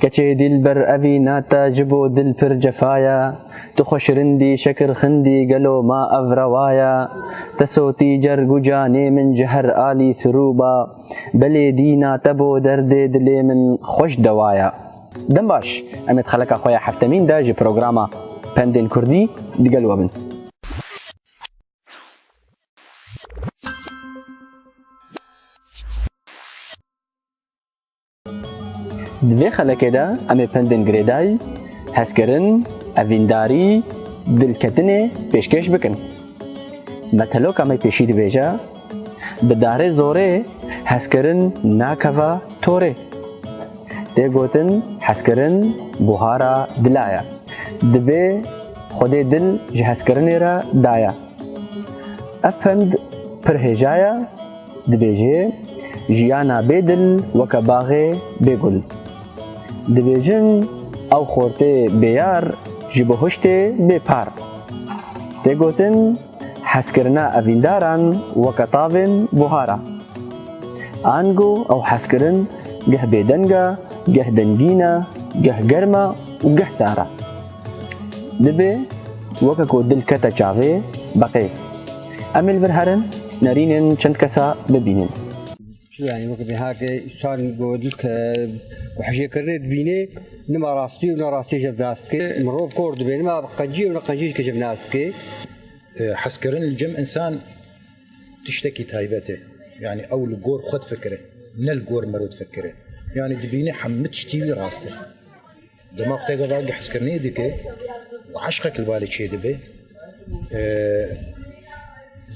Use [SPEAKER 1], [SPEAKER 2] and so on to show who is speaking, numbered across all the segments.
[SPEAKER 1] Keçê dîlber evî na te ji bo dil pir cefa ye Tu xwe şirindî şekir xindî gelo ma ev rewa ye Te sotî cerg û canê min ji her alî sirûba Belê dîna te bo derdê dilê min xweş dewa ye. Dem baş, em ê di xeleka xwe ya heftemîn de ji programa Pendên Kurdî di gel we bin. Di vê xelekê de em ê pendên girêdayî, hezkirin, evîndarî, dilketinê pêşkêş bikin. Meteloka me pêşî dibêje, Bi darê zorê hezkirin nakeve torê. Tê gotin hezkirin buhara dila ye. Dibê Xwedê dil ji hezkirinê re daye. Ev pend pir hêja ye. Dibêje, Jiyana bê dil weke baxê bê gul. Dibêjin, ew xortê bê yar ji bo hiştê bê par. Tê gotin, hezkirina evîndaran weke tavên buhar a. Ango ew hezkirin geh bêdeng e, geh dengîn e, geh germ e û geh sar e. Dibê weke ku dil kete çavê, beqê. Em ê li vir herin, nerînin çend kesa bibînin. Yani wek bi hake san godil ke ku hijê kirine dibînê nima rastî û nerastî jev nas dike. Mirov kor dibe nima qencî û neqencî dike jev nas dike. Hezkirin li cem însan tiştekî taybet e. Yani ew li gor xwe difikire ne li gor miro difikire. Yani dibîne hemû tiştî wî rast e. Dema ku têka vengê hezkirinê dike û eşqek li balê çêdibe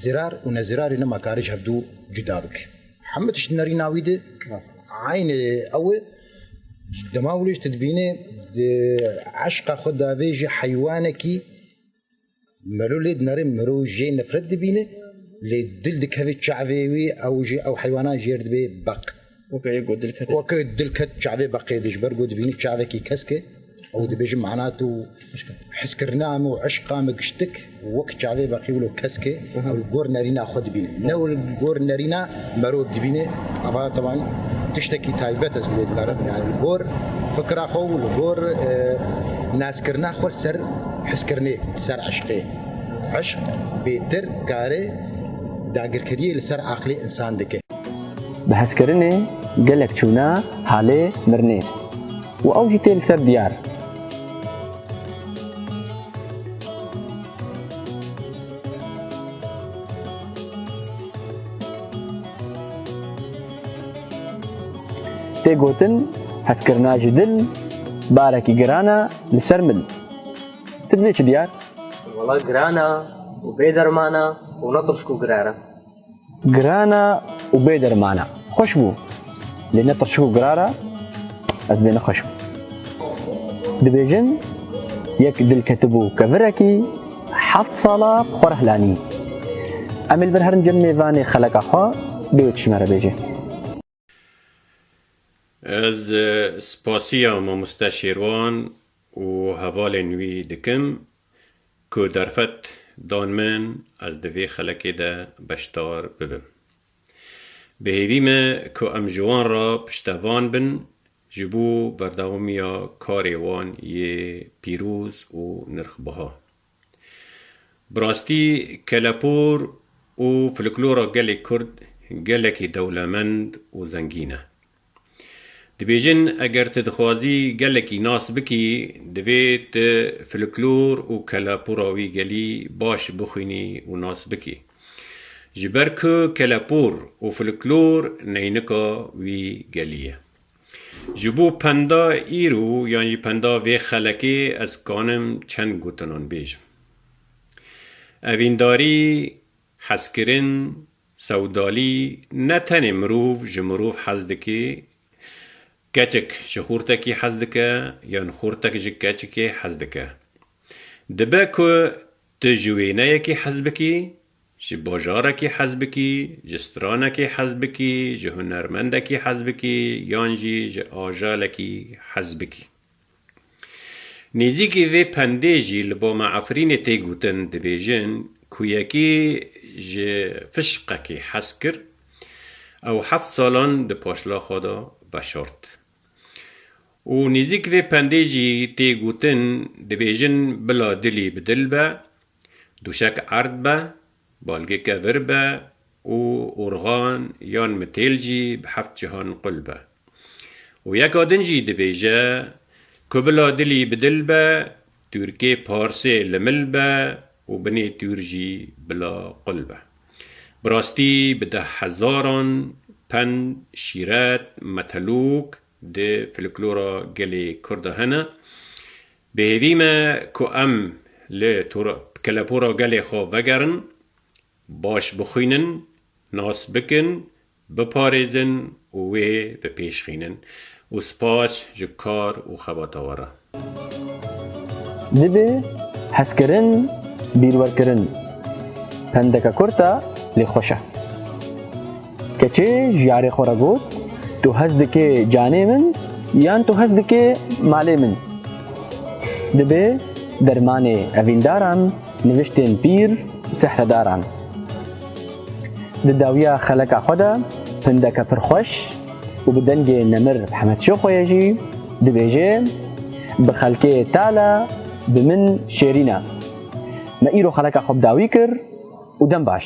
[SPEAKER 1] zirar û nezirarê nima karê ji hevdû cuda bike. Hemû tişt di nerîna wî de aynê ew e dema wiliş tu dibînê di eşqa xwe davêjî heywanekî Melo lê dinare mirov jê nefret dibîne lê dil dikeve çavê wî ew jî ew heywanan jêr dibê beq. Weke yek got dil ket. Weke dil ket çavê beqê de ji ber ku dibîne çavekî kesk e ew dibêje mehna tu hiskirina min û eşqa min giştik wek çavê beqî wilo kesk e. Ew li gor nerîna xwe dibîne. Ne û li gor nerîna merov dibîne. Ava tevan tiştekî taybet ez lê dimerim. Yani li gor fikira xwe û li gor nazkirina xwe ser hiskirinê, ser eşqê. Eşq bêtir karê dagirkeriyê li ser aqilê însan dike. Bi hezkirinê gelek çûna halê mirinê û ew jî tê li ser diyar. Tê gotin hezkirina ji dil barekî giran e li ser min. Ti bilê çi diyar? Wala giran e û bê derman e û ne tişk û giran e. Girana û bê dermana. Xweş bû. Lê ne tirçik û girara ez bê nexweş bû. Dibêjin yek dil ketibû kevirekî heft sala bi xwe re hilanî. Emê li vir herin cem mêvanê xeleka xwe bê wê tişt me re bêje. Ez spasiya Mamoste Şêrwan û hevalên wî dikim ku derfet dan min ez di vê xelekê de beşdar bibim. Bi hêvî me ku em ji wan re piştevan bin ji bo berdewamiya karê wan yê pîroz û nirxbiha. Bi rastî kelepûr û filiklora gelê Kurd gelekî dewlemend û zengîn e. Dibêjin eger tu dixwazî gelekî nas bikî divê tu filiklor û kelepûra wî gelî baş bixwînî û nas bikî. Ji ber ku kelepûr û filiklor neynika wî gelî ye. Ji bo penda îro yan jî penda vê xelekê ez kanim çend gotinan bêjim. Evîndarî, hezkirin, sewdalî ne tenê mirov ji mirov hez dike, keçik ji xortekî hez dike yan xortek ji keçikê hez dike. Dibe ku tu ji wêneyekî hez bikî Ji bajarekî hezbikî, ji stranekî hezbikî, ji hunermendekî hezbikî yan jî ji ajalekî hezbikî. Nêzîkî vê pendê jî li ba me Efrînê tê gotin, dibêjin ku yekî ji fişqekî hez kir ew heft salan di paşlaxa de veşart. Û nêzîk vê pendê jî tê gotin, dibêjin bila dilî bi dil be, Duşek erd be, balgeke vir be û urxan yan mitêl jî bi heft cihan qul be. Û yeka din jî dibêje, Ku bila dilî bi dil be, tûrkê parsê li mil be û binê tûr jî bila qul be. Bi rastî bi deh hezaran pend, şîret, metelûk di filiklora gelê Kurda hene. Bi hêvî me ku em li kelepora gelê xwe vegerin, baş bixwînin, nas bikin, biparêzin û wê bi pêş xînin û spas ji kar û xebata we re. Dibe hezkirin, bîrwerkirin. Pendeke kurt e lê xweş e. Keçê ji yarê xwe re got, Tu hez dikê canê min yan tu hez dikê malê min? Dibe dermanê evîndaran, niviştên pîr û sehredaran. Di dawiya xeleka xwe de pindeke pir xweş û bi dengê nemir Hemed Şêxoyê jî dibêje, Bi xelkê tal e, bi min şêrîn e. Me îro xeleka xwe bi dawî kir û dem baş.